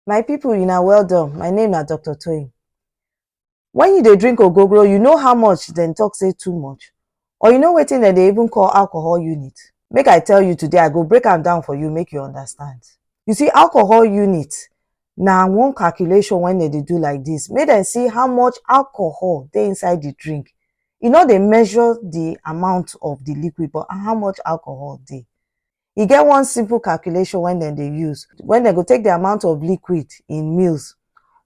My people, una well done. My name na Dr. Toyin. When you dey drink ogogoro, you know how much dem talk say too much? Or you know wetin dem dey even call alcohol unit? Make I tell you today, I go break am down for you make you understand. You see, alcohol unit na one calculation wey dem dey do like this. Make dem see how much alcohol dey inside the drink. E no dey measure the amount of the liquid but how much alcohol dey. E get one simple calculation wey dem dey use when dem go take the amount of liquid in mils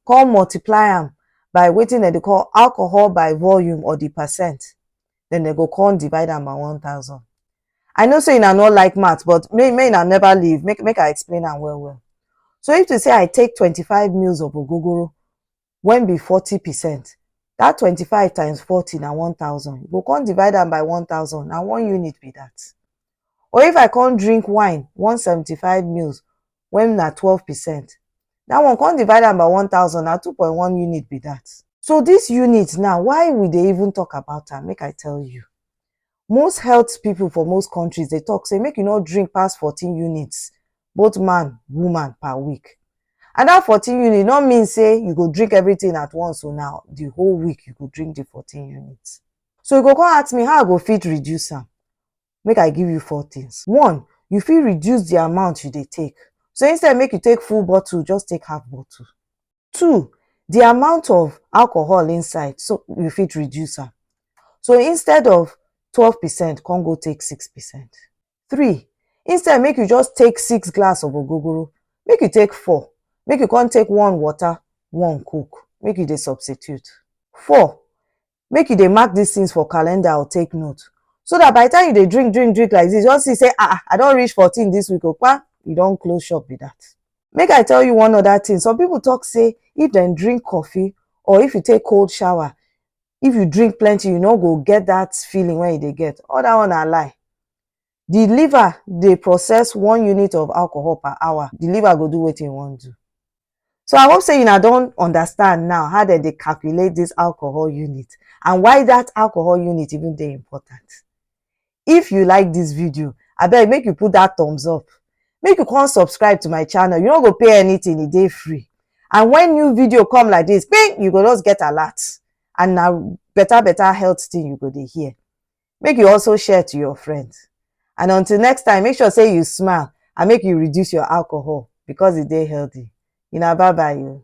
come multiply am by wetin dem dey call alcohol by volume or the percent then dem go come divide am by one thousand. I know say una no like math but make make una never leave make make I explain am well well. So if to say I take twenty five mils of ogogoro when be forty percent that twenty five times forty na one thousand you go come divide am by one thousand na one unit be that or if I come drink wine one seventy five mils when na twelve percent that one come divide am by one thousand na two point one unit be that so this unit now why we dey even talk about am make I tell you Most health pipu for most countries dey talk sey make you no drink pass fourteen units both man, woman per week. And dat fourteen unit no mean sey you go drink everything at once oh, na the whole week you go drink the fourteen units. So you go con ask me how I go fit reduce am? Make I give you four things. One, you fit reduce the amount you dey take. So instead make you take full bottle, just take half bottle. Two, the amount of alcohol inside so you fit reduce am. So instead of twelve percent come go take six percent. Three, instead make you just take six glass of ogogoro, make you take four, make you come take one water, one coke, make you dey substitute. Four, make you dey mark these things for calendar or take note so that by the time you dey drink drink drink like this you just see say ah, ah i don reach fourteen this week okpa oh, you don close shop be that make i tell you one other thing some people talk say if dem drink coffee or if you take cold shower if you drink plenty you no go get that feeling wey you dey get all that one na lie the liver dey process one unit of alcohol per hour the liver go do wetin e wan do so i hope say una don understand now how dem dey calculate this alcohol unit and why that alcohol unit even dey important if you like this video abeg make you put that thumbs up make you come subscribe to my channel you no go pay anything e dey free and when new video come like this ping you go just get alert and na better better health thing you go dey hear make you also share to your friends. And until next time, make sure say you smile and make you reduce your alcohol because it dey healthy. You know, bye bye you.